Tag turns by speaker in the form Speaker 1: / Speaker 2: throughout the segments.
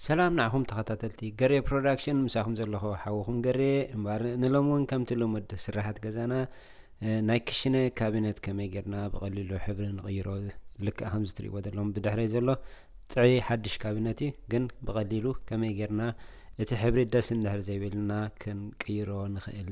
Speaker 1: ሰላም ንዓኹም ተኸታተልቲ ገሬ ፕሮዳክሽን ምሳኹም ዘለኹ ሓወኹም ገሬ እምበር ንሎም እውን ከምቲ ልሙድ ስራሓት ገዛና ናይ ክሽነ ካቢነት ከመይ ጌርና ብቐሊሉ ሕብሪ ንቕይሮ ልክዕ ከምዚ ትሪእዎ ዘለኹም ብድሕረይ ዘሎ ጥዒ ሓድሽ ካቢነት እዩ ግን ብቐሊሉ ከመይ ጌርና እቲ ሕብሪ ደስ እንድሕር ዘይብልና ክንቅይሮ ንኽእል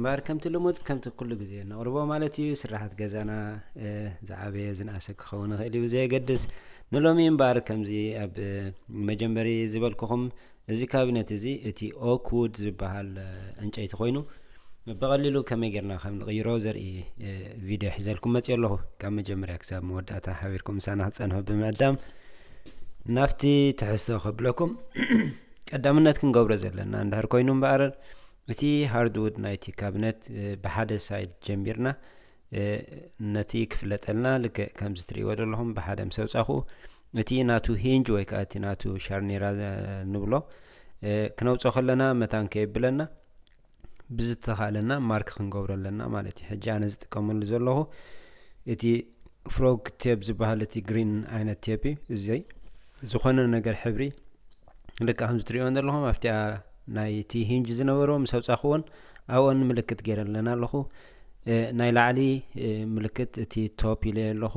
Speaker 1: እምበኣር ከምቲ ልሙድ ከምቲ ኩሉ ግዜ እነቕርቦ ማለት እዩ ስርሓት ገዛና ዝዓበየ ዝንኣሰ ክኸውን ይኽእል እዩ ብዘየገድስ ንሎሚ እምበኣር ከምዚ ኣብ መጀመሪ ዝበልኩኹም እዚ ካቢነት እዚ እቲ ኦክውድ ዝበሃል ዕንጨይቲ ኮይኑ ብቐሊሉ ከመይ ጌርና ከም ንቕይሮ ዘርኢ ቪድዮ ሒዘልኩም መፅዮ ኣለኹ ካብ መጀመርያ ክሳብ መወዳእታ ሓቢርኩም ምሳና ክፀንሑ ብምዕዳም ናብቲ ትሕዝቶ ከብለኩም ቀዳምነት ክንገብሮ ዘለና እንድሕር ኮይኑ እምበኣር እቲ ሃርድዉድ ናይቲ ካብነት ብሓደ ሳይድ ጀሚርና ነቲ ክፍለጠልና ልክዕ ከምዚ ትርእይዎ ዘለኹም ብሓደ ምስ ኣውጻኹ እቲ ናቱ ሂንጅ ወይ ከዓ እቲ ናቱ ሻርኔራ ንብሎ ክነውፅኦ ከለና መታን ከየብለና ብዝተኻእለና ማርክ ክንገብሮ ኣለና ማለት እዩ ሕጂ ኣነ ዝጥቀመሉ ዘለኹ እቲ ፍሮግ ቴፕ ዝበሃል እቲ ግሪን ዓይነት ቴፕ እዩ እዘይ ዝኾነ ነገር ሕብሪ ልካ ከምዚ ትሪእዮን ዘለኹም ኣብቲኣ ናይቲ ሂንጅ ዝነበሮ ምስ ኣውፃኽዎን ኣብኦን ምልክት ገይረ ኣለና ኣለኹ ናይ ላዕሊ ምልክት እቲ ቶፕ ኢለ ኣለኹ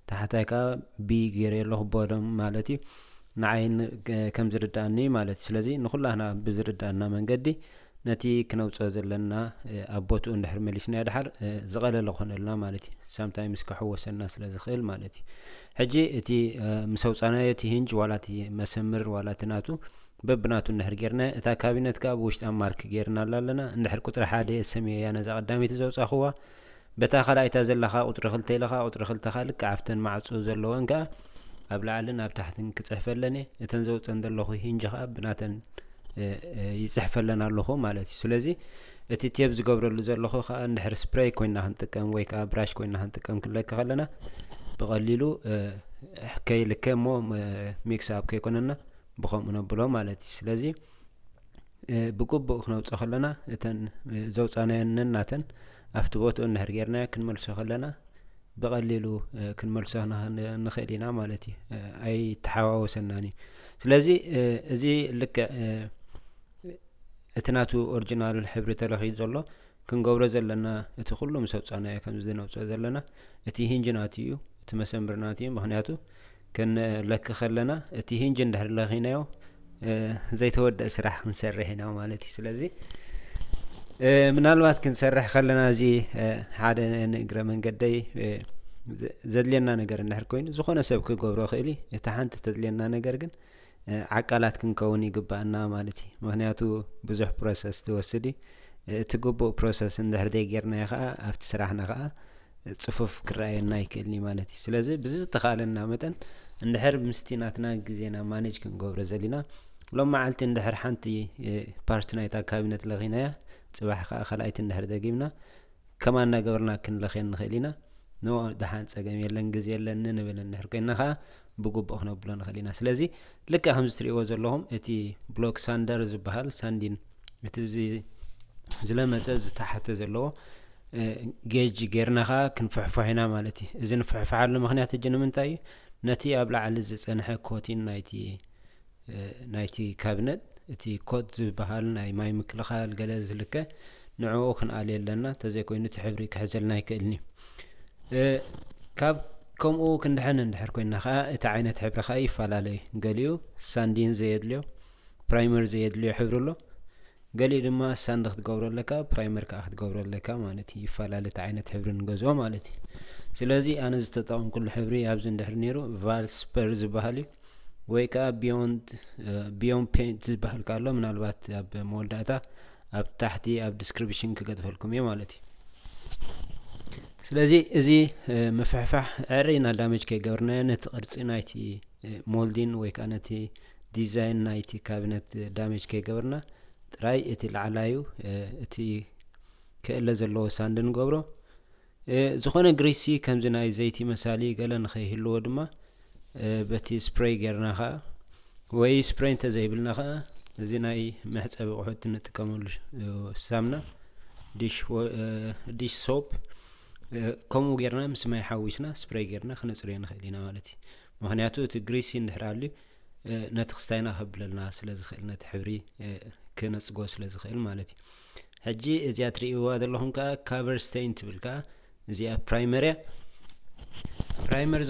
Speaker 1: ታሕታይ ከዓ ቢ ገይረ ኣለኹ ቦደም ማለት እዩ ንዓይ ከም ዝርዳእኒ ማለት እዩ ስለዚ ንኩላህና ብዝርዳእና መንገዲ ነቲ ክነውፅኦ ዘለና ኣብ ቦትኡ እንድሕር መሊስና ድሓር ዝቐለለ ኮነልና ማለት እዩ ሳምታይምስ ክሕወሰና ስለ ዝኽእል ማለት እዩ ሕጂ እቲ ምስ ኣውጻናዮ እቲ ሂንጅ ዋላ እቲ መሰምር ዋላ እቲ ናቱ በብናቱ እንድሕር ጌርናዮ እታ ካቢነት ከኣ ብውሽጣ ማርክ ጌርናላ ኣለና እንድሕር ቁጽሪ ሓደ የሰምዮ እያ ነዛ ቀዳመይቲ ዘውጻኹዋ በታ ካልኣይታ ዘለኻ ቁጽሪ ክልተ ኢልኻ ቁጽሪ ክልተ ከኣ ልክዕ ኣብተን ማዕጾ ዘለወን ከኣ ኣብ ላዕልን ኣብ ታሕትን ክጽሕፈለን እየ እተን ዘውጸን ዘለኹ ሂንጅ ከኣ ብናተን ይጽሕፈለን ኣለኹ ማለት እዩ ስለዚ እቲ ቴብ ዝገብረሉ ዘለኹ ከኣ እንድሕር ስፕረይ ኮይና ክንጥቀም ወይ ከኣ ብራሽ ኮይና ክንጥቀም ክንለክ ከለና ብቐሊሉ ከይልከ እሞ ሚክስ ኣብ ከይኮነና ብከምኡ ነብሎ ማለት እዩ ስለዚ ብግቡእ ክነውፀ ከለና እተን ዘውፃናየን ነናተን ኣብቲ ቦትኡ እንድሕር ጌርናዮ ክንመልሶ ከለና ብቐሊሉ ክንመልሶ ንኽእል ኢና ማለት እዩ ኣይተሓዋወሰናን እዩ ስለዚ እዚ ልክዕ እቲ ናቱ ኦርጅናል ሕብሪ ተለኺዩ ዘሎ ክንገብሮ ዘለና እቲ ኩሉ ምስ ኣውጻናዮ ከምዚ ነውጽኦ ዘለና እቲ ሂንጅ ናቱ እዩ እቲ መሰምር ናቱ እዩ ምክንያቱ ክንለኪ ከለና እቲ ሂንጅ እንድሕር ለኺናዮ ዘይተወደእ ስራሕ ክንሰርሕ ኢና ማለት እዩ ስለዚ ምናልባት ክንሰርሕ ከለና እዚ ሓደ ንእግረ መንገደይ ዘድልየና ነገር እንድሕር ኮይኑ ዝኾነ ሰብ ክገብሮ ክእል እዩ እቲ ሓንቲ ተድልየና ነገር ግን ዓቃላት ክንከውን ይግባኣና ማለት እዩ ምክንያቱ ብዙሕ ፕሮሰስ ትወስድ እዩ እቲ ግቡእ ፕሮሰስ እንድሕር ዘይጌርናዮ ከዓ ኣብቲ ስራሕና ከዓ ፅፉፍ ክረኣየና ይክእልኒ ማለት እዩ ስለዚ ብዝተኻለና መጠን እንድሕር ምስቲ ናትና ግዜና ማነጅ ክንገብሮ ዘሊና ሎም መዓልቲ እንድሕር ሓንቲ ፓርቲ ናይታ ካቢነት ለኺናያ ፅባሕ ከዓ ካልኣይቲ እንድሕር ደጊምና ከማ እናገበርና ክንለኽየን ንኽእል ኢና ኖ ደሓን ፀገም የለን ግዜ የለኒ ንብል እንድሕር ኮይና ከዓ ብግቡእ ክነብሎ ንኽእል ኢና ስለዚ ልክዕ ከምዚ ትርእይዎ ዘለኹም እቲ ብሎክ ሳንደር ዝበሃል ሳንዲን እቲ ዝለመፀ ዝተሓተ ዘለዎ ጌጅ ጌርና ከዓ ክንፍሕፎሕ ኢና ማለት እዩ እዚ ንፍሕፍሓሉ ምክንያት እጅ ንምንታይ እዩ ነቲ ኣብ ላዕሊ ዝፀንሐ ኮቲን ናይቲ ናይቲ ካብነት እቲ ኮት ዝበሃል ናይ ማይ ምክልኻል ገለ ዝልከ ንዕኡ ክንኣልየ ኣለና ተዘይኮይኑ እቲ ሕብሪ ክሕዘልና ኣይክእልን እዩ ካብ ከምኡ ክንድሕን እንድሕር ኮይና ከዓ እቲ ዓይነት ሕብሪ ከዓ ይፈላለ እዩ ገሊኡ ሳንዲን ዘየድልዮ ፕራይመር ዘየድልዮ ሕብሪ ኣሎ ገሊኡ ድማ ሳንድ ክትገብሮ ኣለካ ፕራይመር ከዓ ክትገብሮ ኣለካ ማለት እዩ ይፈላለ እቲ ዓይነት ሕብሪ ንገዝኦ ማለት እዩ ስለዚ ኣነ ዝተጠቐምኩሉ ሕብሪ ኣብዚ እንድሕር ነይሩ ቫልስፐር ዝበሃል እዩ ወይ ከዓ ቢዮንድ ቢዮን ፔንት ዝበሃል ካሎ ምናልባት ኣብ መወዳእታ ኣብ ታሕቲ ኣብ ዲስክሪፕሽን ክገጥፈልኩም እየ ማለት እዩ ስለዚ እዚ ምፍሕፋሕ ዕረ ኢና ዳመጅ ከይገበርናዮ ነቲ ቅርፂ ናይቲ ሞልዲን ወይ ከዓ ነቲ ዲዛይን ናይቲ ካቢነት ዳሜጅ ከይገበርና ጥራይ እቲ ላዕላዩ እቲ ክእለ ዘለዎ ሳንድ ንገብሮ ዝኾነ ግሪሲ ከምዚ ናይ ዘይቲ መሳሊ ገለ ንኸይህልዎ ድማ በቲ ስፕሬይ ጌርና ከዓ ወይ ስፕሬይ እንተዘይብልና ከዓ እዚ ናይ መሕፀቢ ኣቑሑት እንጥቀመሉ ሳምና ዲሽ ሶፕ ከምኡ ጌርና ምስ ማይ ሓዊስና ስፕሬይ ጌርና ክነፅርዮ ንኽእል ኢና ማለት እዩ ምክንያቱ እቲ ግሪሲን ድሕር ኣልዩ ነቲ ክስታይና ከብለልና ስለ ዝኽእል ነቲ ሕብሪ ክነጽጎ ስለ ዝኽእል ማለት እዩ ሕጂ እዚኣ ትርእይዋ ዘለኹም ከዓ ካቨር ስተይን ትብል ከዓ እዚኣ ፕራይመር እያ ፕራይመር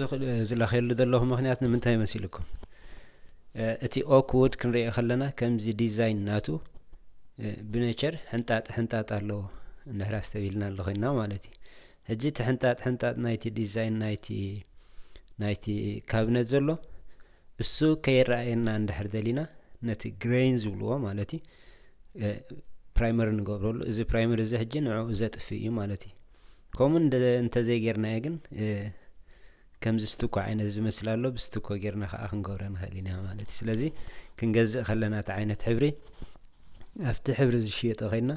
Speaker 1: ዝለኸየሉ ዘለኹ ምክንያት ንምንታይ መሲልኩም እቲ ኦክውድ ክንሪኦ ከለና ከምዚ ዲዛይን ናቱ ብነቸር ሕንጣጥ ሕንጣጥ ኣለዎ እንሕራስ ተቢልና ኣለኮይና ማለት እዩ ሕጂ እቲ ሕንጣጥ ሕንጣጥ ናይቲ ዲዛይን ናይቲ ናይቲ ካብነት ዘሎ እሱ ከይረኣየና እንድሕር ደሊና ነቲ ግሬን ዝብልዎ ማለት እዩ ፕራይመር ንገብረሉ እዚ ፕራይመር እዚ ሕጂ ንዕኡ ዘጥፍእ እዩ ማለት እዩ ከምኡ እንተዘይጌርናዮ ግን ከምዚ ስትኮ ዓይነት ዝመስል ኣሎ ብስትኮ ጌርና ከዓ ክንገብረ ንኽእል ኢና ማለት እዩ ስለዚ ክንገዝእ ከለና እቲ ዓይነት ሕብሪ ኣብቲ ሕብሪ ዝሽየጦ ከይና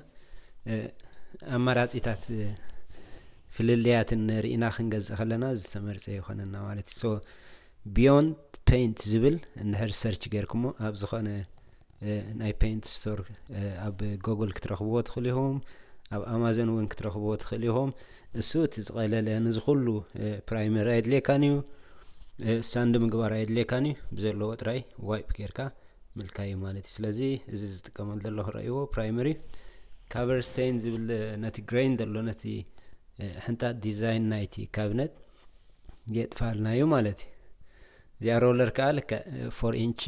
Speaker 1: ኣማራፂታት ፍልልያትን ርኢና ክንገዝእ ከለና ዝተመርፀ ይኾነና ማለት እዩ ሶ ቢዮንድ ፔንት ዝብል እንድሕር ሰርች ጌርኩሞ ኣብ ዝኾነ ናይ ፔንት ስቶር ኣብ ጎግል ክትረኽብዎ ትኽእሉ ኢኹም ኣብ ኣማዞን እውን ክትረኽብዎ ትኽእሉ ኢኹም እሱ እቲ ዝቐለለ ንዝኩሉ ፕራይመር ኣየድልየካን እዩ ሳንድ ምግባር ኣየድልየካን እዩ ብዘለዎ ጥራይ ዋይፕ ጌርካ ምልካይ እዩ ማለት እዩ ስለዚ እዚ ዝጥቀመሉ ዘለኹ ረእይዎ ፕራይመሪ ካቨርስቴን ዝብል ነቲ ግሬን ዘሎ ነቲ ሕንጣት ዲዛይን ናይቲ ካብነት የጥፋልና እዩ ማለት እዩ እዚኣ ሮለር ከዓ ልክዕ ፎር ኢንች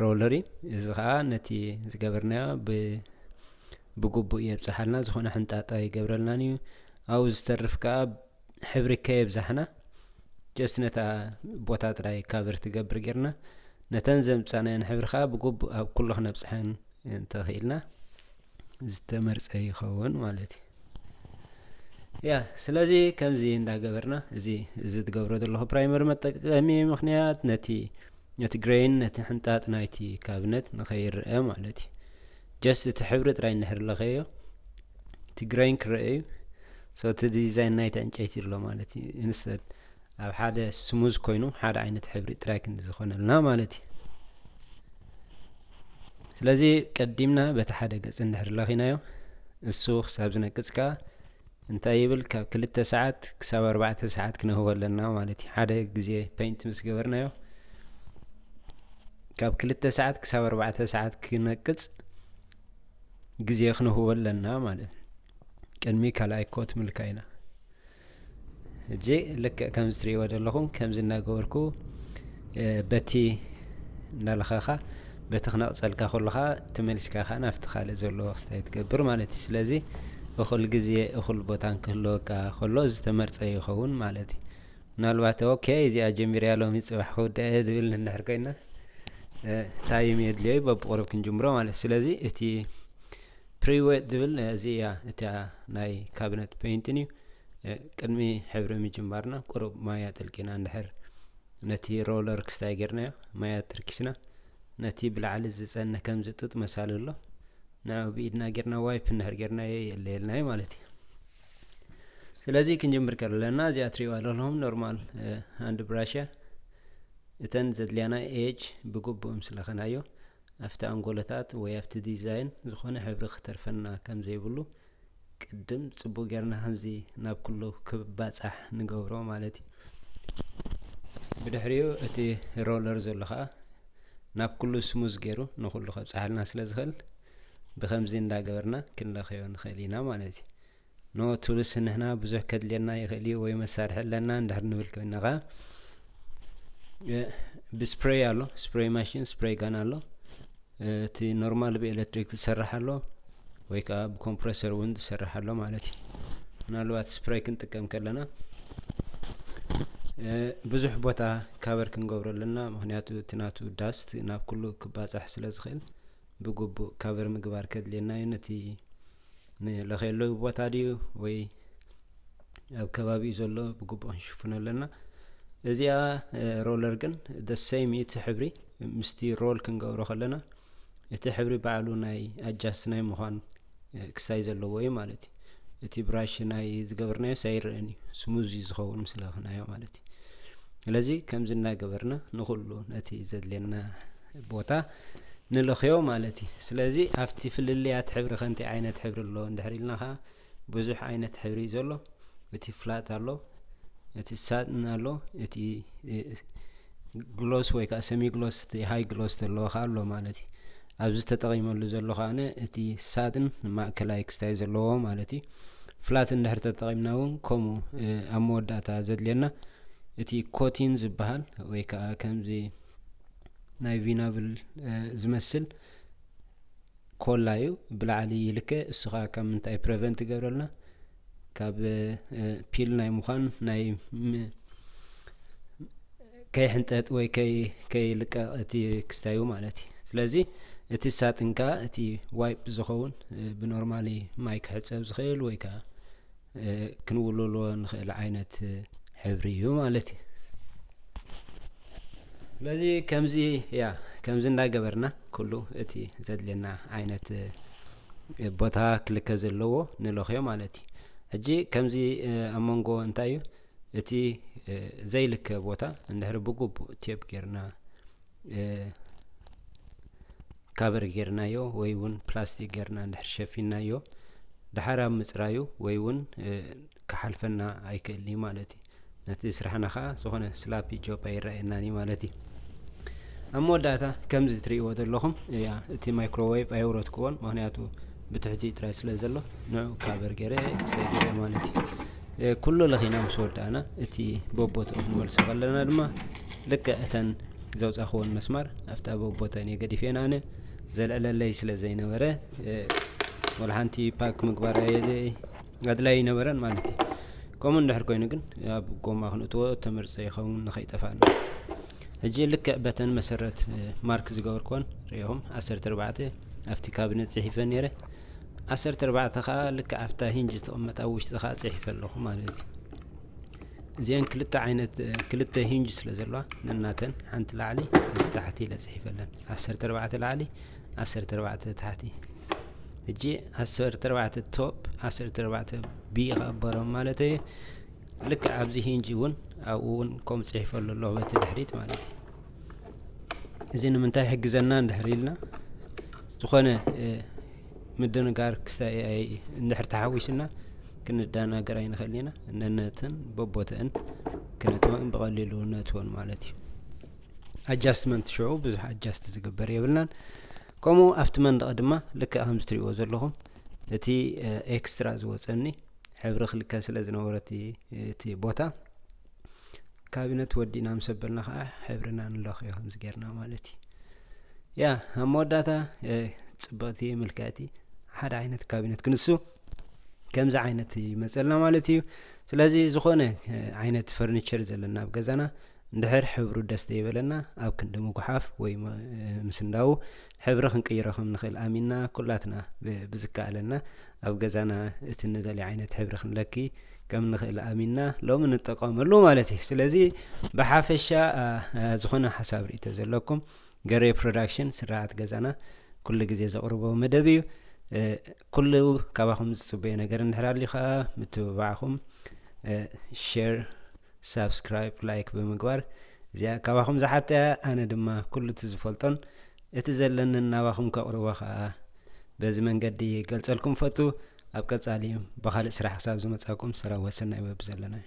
Speaker 1: ሮለር እዩ እዚ ከዓ ነቲ ዝገበርናዮ ብግቡእ የብፅሓልና ዝኾነ ሕንጣጣ ይገብረልናን እዩ ኣብኡ ዝተርፍ ከዓ ሕብሪ ከየብዛሕና ጀስት ነታ ቦታ ጥራይ ካቨር ትገብር ጌርና ነተን ዘምፃናየን ሕብሪ ከዓ ብግቡእ ኣብ ኩሉ ክነብፅሐን እንተኽኢልና ዝተመርጸ ይኸውን ማለት እዩ ያ ስለዚ ከምዚ እንዳገበርና እዚ እዚ ትገብሮ ዘለኹ ፕራይመሪ መጠቀሚ ምክንያት ነቲ ነቲ ግሬን ነቲ ሕንጣጥ ናይቲ ካብነት ንኸይረአ ማለት እዩ ጀስት እቲ ሕብሪ ጥራይ እንድሕር ለኸዮ እቲ ግሬን ክረአ እዩ ሶ እቲ ዲዛይን ናይቲ ዕንጨይቲ ኣሎ ማለት እዩ ኢንስተድ ኣብ ሓደ ስሙዝ ኮይኑ ሓደ ዓይነት ሕብሪ ጥራይ ክንዲ ዝኾነልና ማለት እዩ ስለዚ ቀዲምና በቲ ሓደ ገጽ እንድሕር ለኺናዮ እሱ ክሳብ ዝነቅጽ ከኣ እንታይ ይብል ካብ ክልተ ሰዓት ክሳብ ኣርባዕተ ሰዓት ክነህቦ ኣለና ማለት እዩ ሓደ ግዜ ፐይንት ምስ ገበርናዮ ካብ ክልተ ሰዓት ክሳብ ኣርባዕተ ሰዓት ክነቅጽ ግዜ ክንህቦ ኣለና ማለት ቅድሚ ካልኣይ ኮት ምልካ ኢና ሕጂ ልክዕ ከምዚ ትርእይዎ ዘለኹም ከምዚ እናገበርኩ በቲ እናለኸኻ በቲ ክነቕፀልካ ከሎ ከዓ ተመሊስካ ከዓ ናብቲ ካልእ ዘሎ ክስታይ ትገብር ማለት እዩ ስለዚ እኹል ግዜ እኹል ቦታን ክህልወካ ከሎ ዝተመርፀ ይኸውን ማለት እዩ ምናልባት ኦኬ እዚኣ ጀሚርያ ሎሚ ፅባሕ ክውድአ እየ ዝብል ንድሕር ኮይና ታይም የድልዮ በብቁርብ ክንጅምሮ ማለት ስለዚ እቲ ፕሪዌት ዝብል እዚ እያ እቲያ ናይ ካቢነት ፔይንትን እዩ ቅድሚ ሕብሪ ምጅማርና ቁሩብ ማያ ጥልቂና እንድሕር ነቲ ሮለር ክስታይ ጌርናዮ ማያ ትርኪስና ነቲ ብላዕሊ ዝጸነ ከም ዝጡጥ መሳሊ ኣሎ ንዕኡ ብኢድና ጌርና ዋይፕ እንድሕር ጌርናዮ የለየልናዩ ማለት እዩ ስለዚ ክንጅምር ከለና እዚኣ ትሪእዋ ኣለኹም ኖርማል ሃንድ ብራሽ እተን ዘድልያና ኤጅ ብግቡእ ምስለኸናዮ ኣብቲ ኣንጎሎታት ወይ ኣብቲ ዲዛይን ዝኾነ ሕብሪ ክተርፈና ከም ዘይብሉ ቅድም ጽቡቅ ጌርና ከምዚ ናብ ኩሉ ክባጻሕ ንገብሮ ማለት እዩ ብድሕሪኡ እቲ ሮለር ዘሎ ከኣ ናብ ኩሉ ስሙዝ ገይሩ ንኩሉ ከብጽሓልና ስለ ዝኽእል ብከምዚ እንዳገበርና ክንለኸዮ ንኽእል ኢና ማለት እዩ ኖእ ቱልስ ንሕና ብዙሕ ከድልየና ይኽእል እዩ ወይ መሳርሒ ኣለና እንድሕር ንብል ኮይናኻ ብስፕሬይ ኣሎ ስፕሬይ ማሽን ስፕሬይ ጋን ኣሎ እቲ ኖርማል ብኤሌክትሪክ ዝሰርሕ ኣሎ ወይ ከዓ ብኮምፕረሰር እውን ዝሰርሕ ኣሎ ማለት እዩ ምናልባት ስፕሬይ ክንጥቀም ከለና ብዙሕ ቦታ ካበር ክንገብሮ ኣለና ምክንያቱ እቲ ናቱ ዳስት ናብ ኩሉ ክባፃሕ ስለ ዝኽእል ብግቡእ ካቨር ምግባር ከድልየና እዩ ነቲ ንለኸየለዊ ቦታ ድዩ ወይ ኣብ ከባቢኡ ዘሎ ብግቡእ ክንሽፍኖ ኣለና እዚኣ ሮለር ግን ደ ሰይም እዩ እቲ ሕብሪ ምስቲ ሮል ክንገብሮ ከለና እቲ ሕብሪ ባዕሉ ናይ ኣጃስት ናይ ምዃን ክሳይ ዘለዎ እዩ ማለት እዩ እቲ ብራሽ ናይ ዝገበርናዮ ሳይረአን እዩ ስሙዝ እዩ ዝኸውን ምስ ለኽናዮ ማለት እዩ ስለዚ ከምዚ እናገበርና ንኩሉ ነቲ ዘድልየና ቦታ ንልኽዮ ማለት እዩ ስለዚ ኣብቲ ፍልልያት ሕብሪ ከንቲ ዓይነት ሕብሪ ኣሎ እንድሕር ኢልና ከዓ ብዙሕ ዓይነት ሕብሪ እዩ ዘሎ እቲ ፍላት ኣሎ እቲ ሳጥን ኣሎ እቲ ግሎስ ወይ ከዓ ሰሚ ግሎስ እቲ ሃይ ግሎስ ዘለዎ ከዓ ኣሎ ማለት እዩ ኣብዚ ተጠቒመሉ ዘሎ ከኣ እቲ ሳጥን ማእከላይ ክስታይ ዘለዎ ማለት እዩ ፍላት እንድሕር ተጠቒምና እውን ከምኡ ኣብ መወዳእታ ዘድልየና እቲ ኮቲን ዝበሃል ወይ ከዓ ከምዚ ናይ ቪናብል ዝመስል ኮላ እዩ ብላዕሊ ይልከ እሱ ከዓ ካብ ምንታይ ፕሬቨንት ይገብረልና ካብ ፒል ናይ ምዃን ናይ ከይሕንጠጥ ወይ ከይልቀቕ እቲ ክስታዩ ማለት እዩ ስለዚ እቲ ሳጥንካ እቲ ዋይፕ ዝኸውን ብኖርማሊ ማይ ክሕፀብ ዝኽእል ወይ ከዓ ክንውልሎ ንኽእል ዓይነት ሕብሪ እዩ ማለት እዩ ስለዚ ከምዚ ያ ከምዚ እንዳገበርና ኩሉ እቲ ዘድልየና ዓይነት ቦታ ክልከ ዘለዎ ንለኽዮ ማለት እዩ ሕጂ ከምዚ ኣብ መንጎ እንታይ እዩ እቲ ዘይልከ ቦታ እንድሕሪ ብግቡእ ቴፕ ጌርና ካበር ጌርናዮ ወይ እውን ፕላስቲክ ጌርና እንድሕር ሸፊናዮ ድሓር ኣብ ምፅራዩ ወይ እውን ክሓልፈና ኣይክእልን እዩ ማለት እዩ። ነቲ ስራሕና ከዓ ዝኾነ ስላፒ ጆብ ኣይረኣየናን እዩ ማለት እዩ። ኣብ መወዳእታ ከምዚ ትርእይዎ ዘለኹም እያ እቲ ማይክሮዌቭ ኣየውረድክዎን ምክንያቱ ብትሕቲ ጥራይ ስለ ዘሎ ንዑ ካበር ገይረ ኤክስሬ ገይረ ማለት እዩ ኩሉ ለኺና ምስ ወዳእና እቲ በቦትኡ ክንመልሶ ከለና ድማ ልክዕ እተን ዘውፃኽዎን መስማር ኣብታ በቦተን እየ ገዲፌን ኣነ ዘልዕለለይ ስለ ዘይነበረ ወላ ሓንቲ ፓክ ምግባር ኣየለይ ኣድላይ ኣይነበረን ማለት እዩ ከምኡ እንድሕር ኮይኑ ግን ኣብ ጎማ ክንእትዎ ተመርፀ ይኸውን ንኸይጠፋእ ሕጂ ልክዕ በተን መሰረት ማርክ ዝገበርክዎን ሪኢኹም ዓሰርተ ኣርባዕተ ኣብቲ ካብነት ፅሒፈ ነይረ ዓሰርተ ኣርባዕተ ከዓ ልክዕ ኣብታ ሂንጅ ዝተቐመጠ ኣብ ውሽጢ ከዓ ፅሒፈ ኣለኹ ማለት እዩ እዚአን ክልተ ዓይነት ክልተ ሂንጅ ስለ ዘለዋ ነናተን ሓንቲ ላዕሊ ታሕቲ ኢለ ፅሒፈለን ዓሰርተ ኣርባዕተ ላዕሊ ዓሰርተ ኣርባዕተ ታሕቲ ሕጂ ዓሰርተ ኣርባዕተ ቶፕ ዓሰርተ ኣርባዕተ ቢ ኸዓ በሮም ማለት እዩ ልክዕ ኣብዚ ሂንጂ እውን ኣብኡ እውን ከምኡ ፅሒፈሉ ኣለኹ በቲ ድሕሪት ማለት እዩ እዚ ንምንታይ ሕግዘና እንድሕር ኢልና ዝኾነ ምድንጋር እንድሕር ተሓዊስና ክንደናገር ኣይንኽእል ኢና ነነትን በቦትእን ክነትወን ብቐሊሉ ነትወን ማለት እዩ ኣጃስትመንት ሽዑ ብዙሕ ኣጃስት ዝግበር የብልናን ከምኡ ኣብቲ መንደቕ ድማ ልክዕ ከምዚ ትሪእዎ ዘለኹም እቲ ኤክስትራ ዝወፀኒ ሕብሪ ክልከ ስለ ዝነበረ እቲ ቦታ ካቢነት ወዲእና ምስ ኣበልና ከዓ ሕብርና ንለኽዮ ከምዚ ጌርና ማለት እዩ ያ ኣብ መወዳእታ ፅብቕቲ ምልክዕቲ ሓደ ዓይነት ካቢነት ክንሱ ከምዚ ዓይነት ይመፀልና ማለት እዩ ስለዚ ዝኾነ ዓይነት ፈርኒቸር ዘለና ኣብ ገዛና እንድሕር ሕብሩ ደስ ዘይበለና ኣብ ክንዲ ምጉሓፍ ወይ ምስንዳው ሕብሪ ክንቅይሮ ከም ንኽእል ኣሚንና ኩላትና ብዝከኣለና ኣብ ገዛና እቲ ንደልዮ ዓይነት ሕብሪ ክንለኪ ከም ንኽእል ኣሚንና ሎሚ ንጠቀመሉ ማለት እዩ ስለዚ ብሓፈሻ ዝኾነ ሓሳብ ርእቶ ዘለኩም ገሬ ፕሮዳክሽን ስርዓት ገዛና ኩሉ ግዜ ዘቕርቦ መደብ እዩ ኩሉ ካባኹም ዝጽበዮ ነገር እንድሕር ኣልዩ ከኣ ምትብባዕኹም ሼር ሳብስክራይብ ላይክ ብምግባር እዚኣ ካባኹም ዝሓተ እያ ኣነ ድማ ኩሉ እቲ ዝፈልጦን እቲ ዘለንን ናባኹም ከቕርቦ ከኣ በዚ መንገዲ ገልጸልኩም ፈቱ ኣብ ቀጻሊ ብኻልእ ስራሕ ክሳብ ዝመጻኩም ሰላም ወሰናይ ወብ ዘለና እዩ